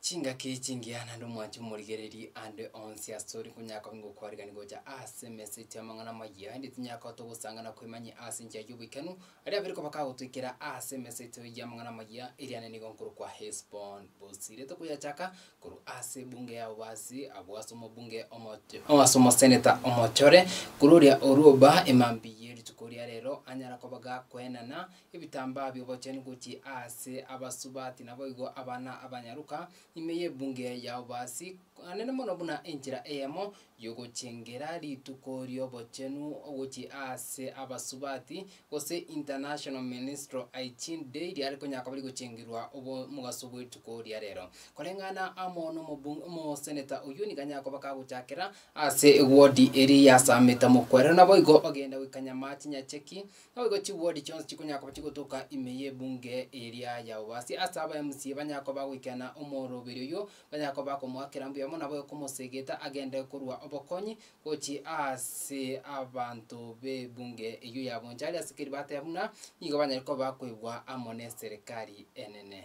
Chingaki echingiya naende omwancho omorigereria ande onsi asore konya koba ngokwarigania gocha ase emesa etio amang'ana amayia, aende tinyara kogota ogosanga na kwemanya ase enchera y'oboikanu, aria abere koba kagotoikera ase emesa etio y'amang'ana amayia, eriane nigo nkorokwa Hesbon. Bosirete koyachaka korwa ase ebunge yabo basi abwo ase omobunge omoche o ase omoseneta omochore, korwa oria orwa oba emambia ye rituko ria rero anyara koba gakoenana Ebitambaa bi'obochenu gochia aase abasubati naboigo abana abanyaruka ime y'ebunge ya Obasi, anene mono buna enchera eyemo y'ogochengera rituko ri'obochenu gochia aase abasubati, gose International Menstrual Hygiene Day, riare konya koba rigochengerwa obo omogaso bw'erituko ria rero. Koreng'ana amo nomobu omoseneta oyio nigo anyare koba kagochakera aase ewodi eria yasamete mokwerero naboigo bagenda goikanyama chinyacheki Naboigo chibodi chionsi chikonyara koba chigotoka ime y'ebunge eria yao. Basi ase aba MCA banyare koba bagoikena omoroberi oyio, banyare koba bakomoakera mbuya mono naboigo komosegeta agende korwa obokonyi gochia ase abanto b'ebunge eyio ya Bonchari ase keri bateba buna nigo banyare koba bakoegwa amo neserikari enene.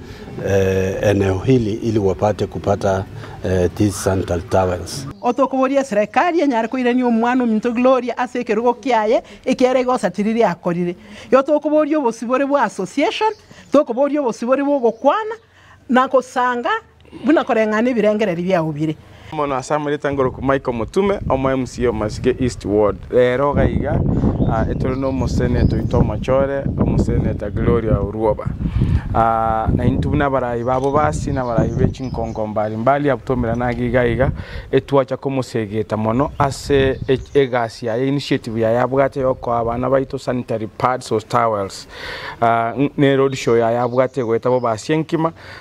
eneo hili ili wapate kupata these sandal towels. Otokoboria eserekari enyare koirania omwana ominto Gloria ase ekerogo kiaye ekiaye rigosatiriria akorire? Otokoboria obosibore bwa association, tokoboria obosibore bw'ogokwana na gosanga buna koreng'ana ebirengererio biao bire. Mono ase amarita ngoroku Michael Omotume, omo MC o Masike East Ward. Rero iga iga etore no Omoseneto oito omochore, Omoseneta Gloria Orwoba. Na intwe buna abarai babo basi na abarai be chinkonko mbari mbari abwo twaumerana age iga iga, etwacha komosegeta mono ase egasi yaye, initiative yaye abwate ya okoa abana baito sanitary pads or towels. Ne road show yaye abwate egoeta bobe ase enkima,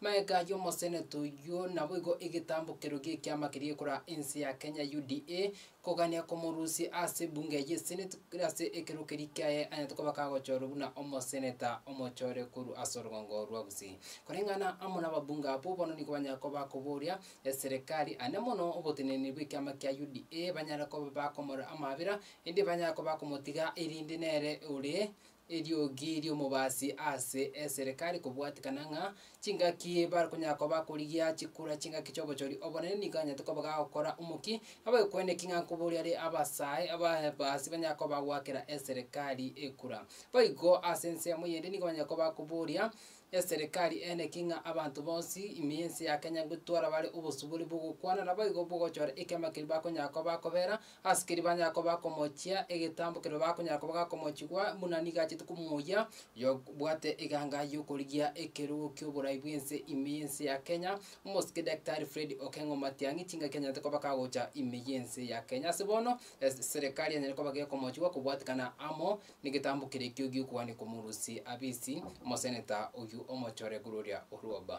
Maega ayio omoseneto oyio naboigo egetambokero gi'ekiama keria ekora ense ya Kenya, UDA, kogania komorusia ase ebunge eye eseneti ase ekero keria kiaye anyete koba kagochorwa buna omoseneta omochore korwa ase orogongo rwa Gusii. Koreng'ana amo nababunge abwo bono nigo banyare koba bakoboria eserekari ane mono oboteneneri bw'ekiama kia UDA banyare koba bakomorora amabera, ende banyare koba bakomotiga erinde nere ore Eriogi ri'omobaasi ase esirika rikobwatikana ng'a chingaki bakonyara koba bakorigia chikura chingaki chi'obochori obonene nigo anyarete koba gagokora omokia abagekwane ki ng'a nkoboria are abasae ababaasi banyare koba bagoakera eserekari ekura. Boigo ase ensemo eyende nigo banyare koba bakoboria eserekari ene ki ng'a abanto bonsi ime y'ense ya Kenya gotwara bare obosuburi bw'ogokwana naboigo bw'ogochora ekiama keria bakonyara koba bakobera Asikiri banyara koba komochia egetambo keria bakonyara koba gakomochigwa buna nigo achete komoyia oyobwate eganga y'okorigia ekerogo ki'oborai bw'ense ime y'ense ya Kenya, omosike Daktari Fred Okeng'o Matiang'i, chingaki anyarete koba kagocha ime y'ense ya Kenya. Ase bono, ase serekari anyare koba gekomochigwa kobwatekana amo negetambo keria ekio gi'okogania komorusia abisi omoseneta oyio omochore korwa oria orwa oba.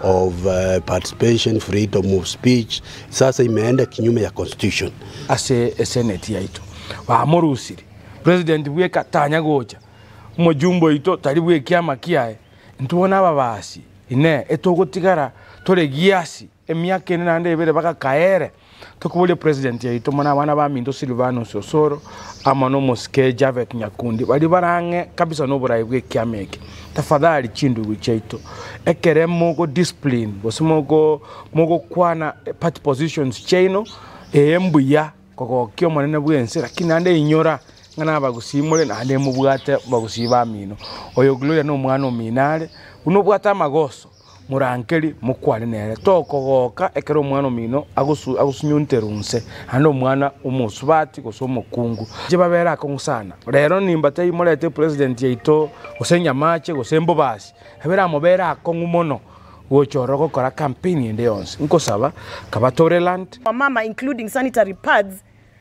of participation, freedom of speech, sasa imeenda kinyume ya constitution. Ase eseneti yaito bamorusiri president bweka tanya gocha, omojumbe oito tari bwekiama kiaye, intwe bono ababaasi inee etogotigara tore giasi emiaka ene naende ebere bagakaere? Tokoboria president yaito muna abana baminto Sylvanus Osoro amo na omosike Javeth Nyakundi baria barang'e kabisa noborai bw'ekiama eke. Tafadhali chindugu chiaito ekere mogo discipline gose mogo mogokwana party positions chiaino ee mbuya kogokia omonene bwense lakini naende inyora ng'a nabagusii more naende mobwate abagusii bamino. Oyo Gloria nomwana omino are buna obwate amagoso. Morankeri, mokwane nere, Tokogoka ekero omwana omino agosunyunterwa onse, naende omwana omosubati gose omokungu, inche babere akong'u sana. Rero nimba tari morete president yaito, gose nyamache, gose mbobasi, babere amobere akong'u mono gocha ororo gokora campaign ende yonsi, nkosaba kabatoreland. Wamama including sanitary pads.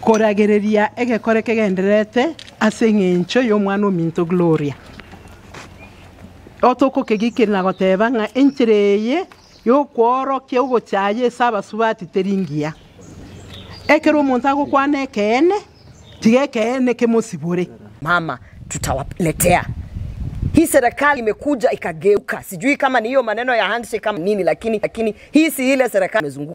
Koragereria egekore kegendererete ase engencho y'omwana ominto Gloria, otokokegikiria na goteba ng'a enchera eye y'okworokia ogochaya ase abasubati teri ngiya. Ekero omonto agokwana ekeene, tiga ekeene kemosibore. Mama tutawaletea hii serikali imekuja ikageuka sijui kama ni hiyo maneno ya handshake ama nini lakini hii si ile serikali imezunguka.